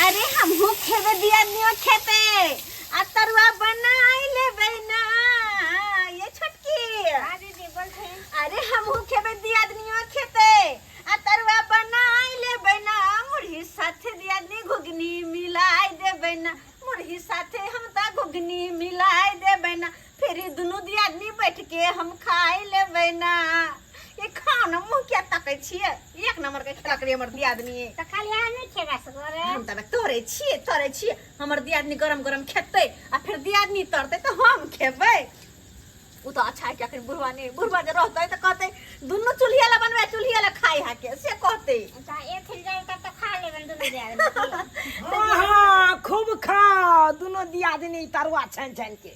अरे हमहू खेबे दिया नियो खेते आ तरुआ बनाई ले बहना ये छोटकी हां दीदी बोल थे अरे हमहू खेबे दिया नियो खेते आ तरुआ बनाई ले बहना मुरही साथे दिया नी घुगनी मिलाई दे बहना मुरही साथे हम ता घुगनी मिलाई दे बहना फिर ई दुनू दियादनी बैठ के हम खाए लेबै ना ये खाओ ना मुंह क्या तकै छियै एक नंबर के खेलक रे हमर दियादनी तऽ खाली अहाँ नहि खेबा सगरे हम तब तोरे छियै तोरे छियै हमर दियादनी गरम गरम खेतै आ फिर दियादनी तरतै तऽ हम खेबै ओ तऽ अच्छा है कि अखन बुढ़वा नहि बुढ़वा जे रहतै तऽ कहतै दुनू चूल्हिया ला बनबै चूल्हिया ला खाइ हा के से कहतै तऽ एक जाए तब तऽ खा लेबनि दुनू दियादनी हाँ हाँ खूब खा दोनों दियादनी तरुआ छानि छानि के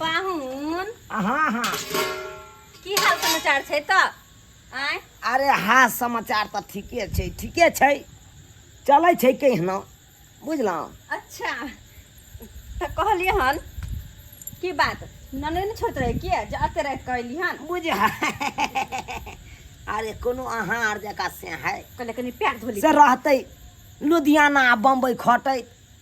पाहुन हाँ हाँ की हाल समाचार छै तऽ आँय अरे हाँ समाचार तऽ ठीके छै ठीके छै चलै छै कहिना बुझलहुँ अच्छा तऽ कहलियै हन की बात नने ने छोट रहे किया जे अते राति कहली हन बुझ अरे कोनो अहाँ आर जकाँ से है कहले कनी पैर धोली से रहतै लुधियाना आ बम्बई खटै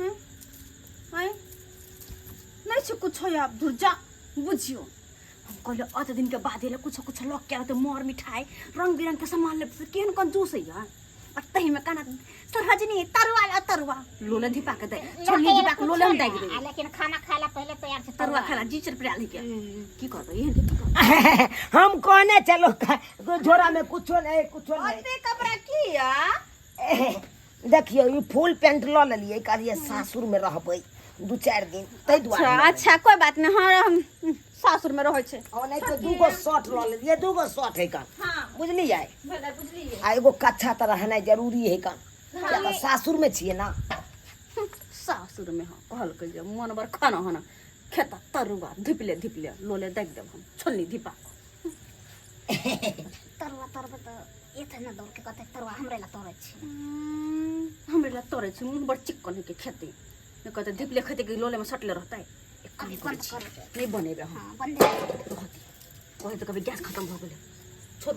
हम्म? आय नहीं छो कुछ हो आप दूर जा बुझियो हम कहले अत दिन के बाद एले कुछ कुछ लग के तो मोर मिठाई रंग बिरंग के सामान ले केहन कंजूस है यार और तही में काना तो रजनी तरुआ ला तरुआ लोलन धिपा के दे छोड़नी धिपा के लोलन दे दे लेकिन खाना खाला पहले तैयार से तरुआ खाला जी चर प्रिया लेके की करबे एहन के की करबे हम कोने चलो का- झोरा में कुछो नहीं कुछो नहीं अबे कपड़ा किया देखियौ ई फुल पेंट लऽ लेलियै कहलियै सासुर में रहबै दू चारि दिन ताहि अच्छा दुआरे अच्छा कोई बात नहीं हाँ हम सासुर में रहे छे और नहीं तो दूगो शर्ट लऽ लेलियै दूगो शर्ट है कन हाँ बुझलियै भला बुझलिए आ एगो कच्छा तऽ रहनाइ जरूरी है कन किया तऽ सासुर में छियै ना सासुर में हाँ कहल के जे मन बर खाना हना खेता तरुआ धिपले धिपले लोले देख देब हम छोलनी धिपा तरुआ तरबै तऽ एतै ने दौड़के कहतै तरुआ हमरे लए तोड़ै छी हमरे लए तोड़ै छी मुँह बड़ चिक्कन होइके खेतै नहि कहतै धिपले खेतै कि लोलेमे सटले रहतै एक काम अभी करै बन्द छी, करै के। नहि बनेबै हम हाँ बंदे कहती कहै तऽ कभी गैस खतम भऽ गेलै छोड़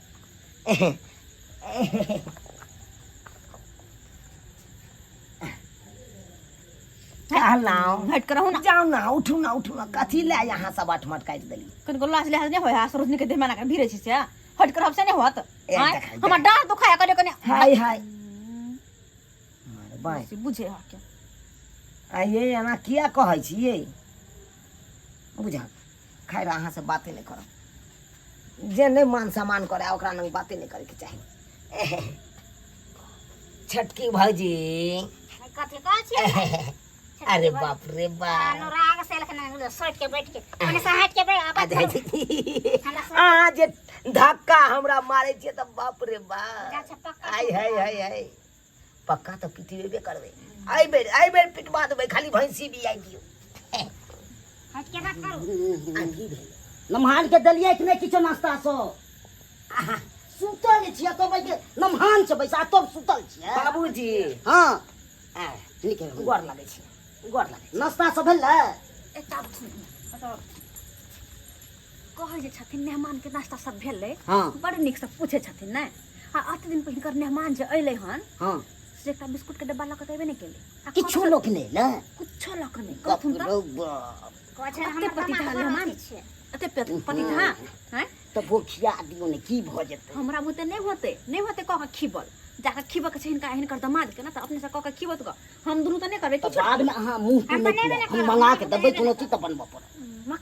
कहलहुँ हट करहु ना जाऊ ना उठू ना उठू ना कथी ले यहाँ सब अठमट काटि देली कनिको लाज लिहाज नहीं होय सरोज निके देह मना कर भीरे छी से हट कर हमसे नहीं होत ए, आँय, देखाइ, हमर डांस दुखाया करे कने हाय हाय मारे बाँय से बुझे हा के आ ये एना किया कहै छी ये बुझा खैर अहाँ से बाते नहीं करब जे नहीं मान सम्मान करे ओकरा लग बाते नहीं करे के चाही छटकी भौजी कथी कहै छियै अरे बाप रे बाप अनुराग से लखन सोच के बैठ के ओने से हट के बैठ आ जाइ छी। अहाँ जे धक्का हमरा मारे छियै तऽ बाप रे बाप गाछ पक्का आय हाय हाय हाय पक्का तऽ पिटिएबे करबै एहि बेर एहि बेर पिटवा देबै खाली भैंसी भी आइ दियौ नमहान के देलियै कि नहि किछो नाश्ता सब सुतल छियै कहबै जे नमहान छै बैसा तब सुतल छियै बाबूजी हँ ठीक है गोर लागै छै गोर लागै नाश्ता सब भेलै एकटा कहै जे छथिन मेहमानके नाश्ता सब भेलै हाँ बड़ नीकसँ पूछै छथिन ने आ अत दिन पर हिनकर मेहमान जे अयलै हन हाँ से एकटा बिस्कुटके डब्बा लऽ कऽ तऽ अयबे नहि केलै आ किछो कहलक- लोक नहि ने किछो लऽ कऽ नहि बाप कहथुन तऽ रौ बाप कहै छै अते पति कहाँ मेहमान छियै अते पेट पति कहाँ हैं तऽ बोखिया दियो ने की भऽ जेतै हमरा बुते नहि होते नहि होते कह के खीबल जाके खीबऽ के छै हिनका हिनकर दमाद के ना तऽ अपने से कह के खीबऽ तऽ हम दुनू तऽ नहि करबै तऽ किछो बादमे अहाँ मुँह तू नहि अपने खुआएब। नहि हम करब, मना के अपने देबै नहि कोनो चीज तऽ बनबऽ पड़त मक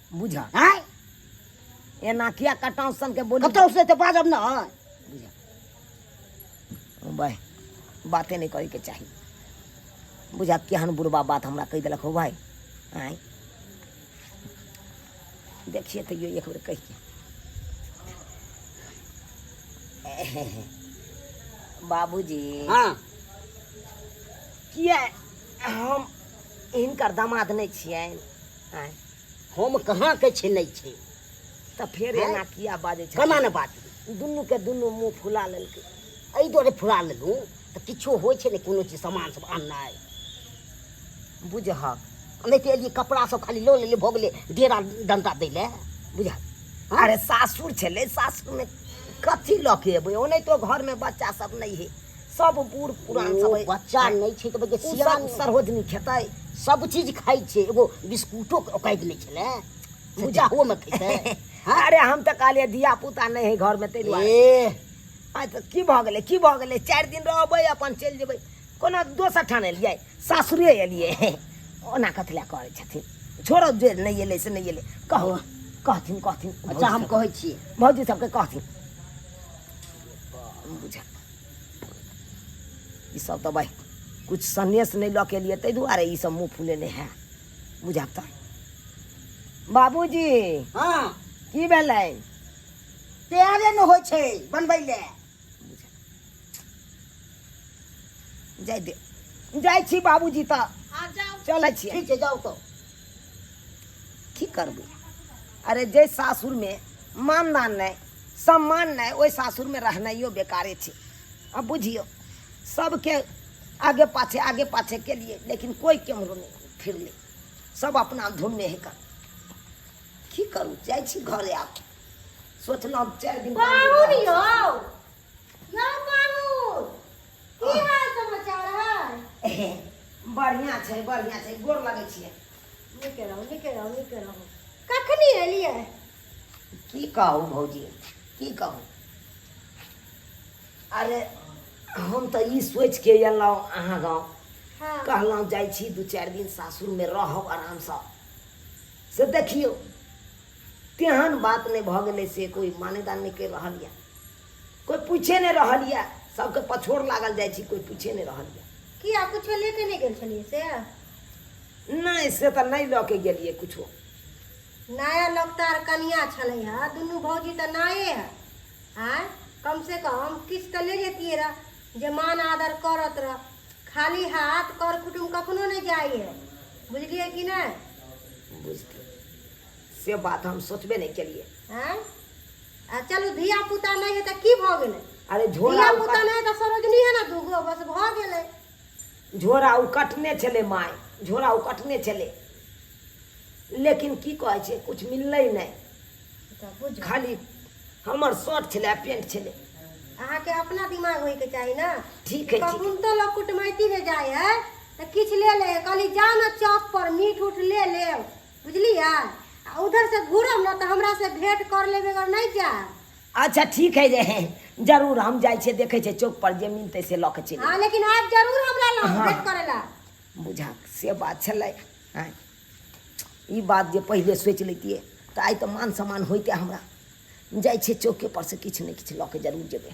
बुझा आय एना किया कटाव सन के बोली कतौ से ते बाजब न बुझा ओ भाई बाते नहीं करे के चाही बुझा केहन बुढ़बा बात हमरा कह देलक हो भाई आय देखिए तो एक बेर कह के बाबूजी हां किया हम इनकर दामाद नहीं छियै आय हम कहाँ के छी नहीं छी तऽ फेर हैं? एना किया बाजै छै केना ने बात दुनू के दुनू मुंह फुला लेलकै एहि दुआरे फुला लेलहुँ तऽ किछो होइ छै ने कोनो चीज सामान सब आननाइ बुझहक नहि तऽ एलियै कपड़ा सब खाली लऽ लेलियै भऽ गेलै डेरा डंटा दै लए बुझहक हाँ? अरे सासुर छलै सासुरमे कथी लऽ के एबै ओनाहितो घरमे बच्चा सब नहि है सब बूढ़ पुरान सब बच्चा नहीं छै त बजे सियान सरहोजनी खेतै सब चीज खाइ छै एगो बिस्कुटो ओकाइद नहीं छले पूजा हो में खेतै अरे हम त कहलिए धिया पुता नहीं है घर में ते दुआरे आ त की भ गेलै की भ गेलै चार दिन रहबै अपन चल जेबै कोनो दोसर ठान एलियै सासुरे एलियै ओना कथले करै छथिन छोड़ो जे नहीं एलै से नहीं एलै कहो कहथिन कहथिन अच्छा हम कहै छी भौजी सबके कहथिन बुझा ई सब तो भाई कुछ संदेश नहीं लऽ के लिए ताहि दुआरे ई सब मुँह फुलेने है बुझाब तऽ बाबूजी हाँ की भेलै तैयारे न हो छै बनबै ले जाय दे जाइ छी बाबूजी तऽ आ जाओ चलै छियै ठीक छै जाओ तो की करबै अरे जे सासुरमे मानदान नहि सम्मान नहि ओहि सासुरमे रहनाइयो बेकारे छै आ बुझियौ सबके आगे पाछे आगे पाछे के लिए लेकिन कोई केम्हरो नहि फिरलै सब अपना धुनमे हेकर की करू जाइ छी घरे आब सोचलहुँ चारि दिन पाँच दिन बाबू रहब। यौ यौ बाबू की हाल समाचार है बढ़िया छै बढ़िया छै गोर लगै छियै नीके रहू नीके रहू नीके रहू कखनी एलियै की कहू भौजी की कहू अरे हम तऽ ई सोचि के एलहुँ अहाँ गाँव हाँ कहलहुँ जाइ छी दू चारि दिन सासुरमे रहब आरामसँ से देखियौ तेहन बात नहि भऽ गेलै से कोइ मान्यता नहि करि रहल यऽ कोई पूछे नहीं रहल ये सबके पछोड़ लागल जाय छी कोई पूछे नहीं रहल ये की आ कुछ लेके नहीं गेल छलिए से नहीं से तो नहीं लऽ के गेलिए कुछ नया लोकतार कनिया छलै है दुनू भौजी तऽ नाये है आय कम से कम किछ तऽ ले जेतिए रह जे मान आदर करत रह खाली हाथ कर कुटुम कखनो नहीं जाय है बुझलिए कि नहीं बुझते से बात हम सोचबे नहीं केलिए आय आ चलू धिया पुता नहीं है तो की भ गेले अरे झोरा धिया उ पुता कट- नहीं है तो सरोजनी है ना दूगो बस भ गेले झोरा उ कटने छले माय झोरा उ कटने छले लेकिन की कहै छै कुछ मिललै नहि तऽ बुझू खाली हमर शर्ट छलै आ पेंट छलै अहाँके अपना दिमाग होइके चाही ने ठीक है, ठीक। कखन तो लोग कुटमैती में जाय है तऽ किछु ले ले कहली जा ने चौक पर मीट उट ले लेब बुझलियै आ उधर से घूरब ने तऽ हमरा से भेंट कर लेबे अगर नहीं जा अच्छा ठीक है जे है जरूर हम जाइ छियै देखै छियै चौक पर जे मिलतै से लऽ के चलि हाँ लेकिन आप जरूर हमरा लग हाँ। भेंट करेला बुझा से बात छलै आँय। ई बात जे पहिले सोचि लैतियै तऽ आइ तऽ मान सम्मान होइते हमरा जाइ छियै चौके पर से किछु ने किछु लऽ के जरूर जेबै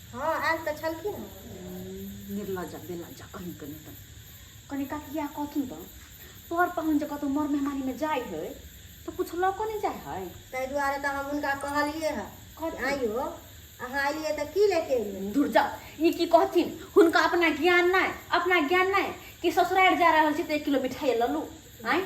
हँ आयल तऽ छलखिन हँ निर्लजा बेलजा कहीं कनी तऽ कनी काकी इएह कहथुन तऽ पर पाहुन जे कतहु मर मेहमानीमे जाइ हइ तऽ किछु लऽ कऽ नहि जाइ हइ ताहि दुआरे तऽ हम हुनका कहलिए हँ कथी? आइयो अहाँ अलियै तऽ की लेके एलियै धुर जा ई की कहथिन हुनका अपना ज्ञान नहि अपना ज्ञान नहि कि ससुरारि जा रहल छी तऽ एक किलो मिठाइ लऽ लू आँय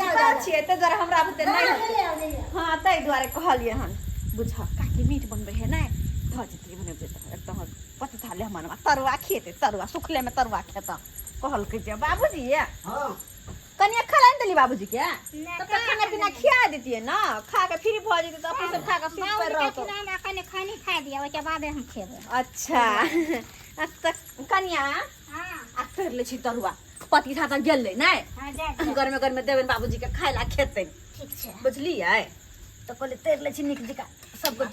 पता छियै ताहि दुआरे हमरा बुते नहि होतै हँ ताहि दुआरे कहलियै हन बुझ काकी मीट बनबै है नहि धऽ जेतै बनबै तऽ एक तऽ हमर पति थाले हमर माँ तरुआ खेतै तरुआ सुखलेमे तरुआ खेतऽ कहलकै जे बाबूजी ये कनिया खा लै देली बाबूजी के तब तक खाना पीना खिया देतियै ने खा के फ्री भऽ जेतै तऽ अपन सब खा के सुत पर रहतौ हमरा कनि खैनी खा दिअ ओहिके बादे हम खेबै अच्छा अब तक कनिया आ तरि लै छी तरुआ पति था तऽ गेलै नहि हाँ जा जा गरमे गरमे देबनि बाबूजीके खाय ला खेतै ठीक छै बुझलियै तऽ कहलियै तरि लै छी नीक जकाँ सबके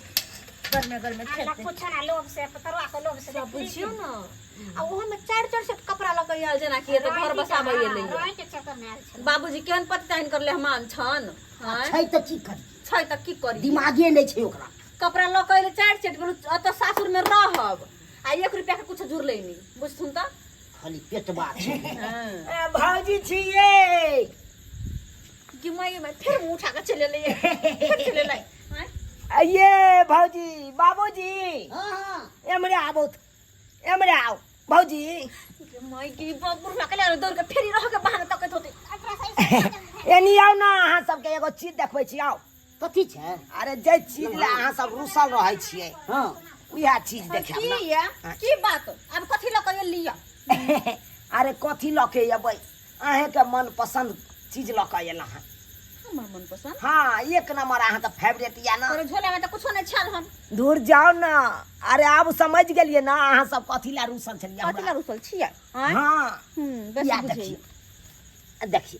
गरमे गरमे हमरा खेतै कुछो ना लोभ से पतरवा के लोभ से सब बुझियौ ने आ ओहोमे चारि चारि सेट कपड़ा लऽ कऽ आयल जेनाकि एतऽ घर बसाबै एलै रोय के चक्कर में आयल छल बाबूजी केहन पति ताइन करले हमान छन आँय? छै तऽ की करी छै तऽ की करी दिमागे नहि छै ओकरा कपड़ा लऽ कऽ एलै चारि सेट गेलहुँ ओतऽ सासुरमे रहब आ एक रुपया के कुछ जुड़ले नहीं बुझ सुन तो खाली पेट बात छै ए, भौजी छी ये कि मैं ये मैं फिर मुंह उठा के चले ले फिर चले ले हैं? आ, ये भौजी बाबूजी हां हां एमरे आबो त, एमरे आओ भौजी कि मैं की बाबू उठा के ले दौड़ के फिर ही रह के बहाना तकत होते एकरा सही से एनी आओ ना अहाँ सबके एगो चीज देखबै छी आओ कथी छै अरे जे चीज ले अहाँ सब रुसल रहै छियै हँ उएह चीज देखायब की ने। ये की बात अब कथी लऽ कऽ लिअ अरे कथी लऽ के अयबै अहेंके मन पसन्द चीज लऽ कऽ अयलहुँ हँ हमर मन पसन्द हँ एक नंबर अहाँके फेवरेट यऽ ने तोरे झोला में तऽ कुछो नहि छल हन दूर जाओ ना अरे आब समझ गेलिए ना अहाँ सब कथी ला रूसल छलिए कथी लऽ रुसल छियै आँय? हाँ हम्म, बेसी या बुझैए। देखिए देखिए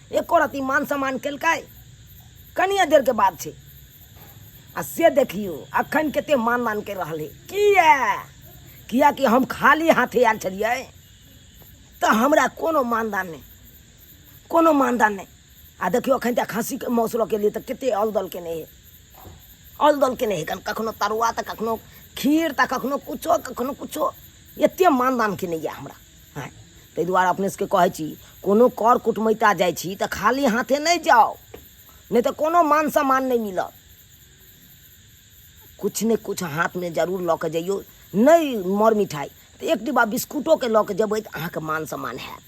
एको रति मान सम्मान केलकै कनिए देरके बात छै आ से देखियौ अखन कते मान मान कर रहल है किया कियाकि हम खाली हाथे आयल छलियै तऽ हमरा कोनो मानदान नहि कोनो मानदान नहि आ देखियौ अखन तक हँसीके मौस लऽ केलियै तऽ कते अलदल केने है अलदल केने है कखनो तरुआ तऽ कखनो खीर तऽ कखनो कुछो कखनो कुछो एते मानदान केने यऽ हमरा हैं ताहि दुआरे अपने सबके कहै छी कोनो कर कुटमैता जाइ छी तऽ खाली हाथे नहि जाउ नहि तऽ कोनो मान सम्मान नहि मिलत किछु ने किछु हाथमे जरूर लऽ कऽ जइयौ नहि मर मिठाइ तऽ एक डिब्बा बिस्कुटोके लऽ कऽ जेबै तऽ अहाँके मान सम्मान हैत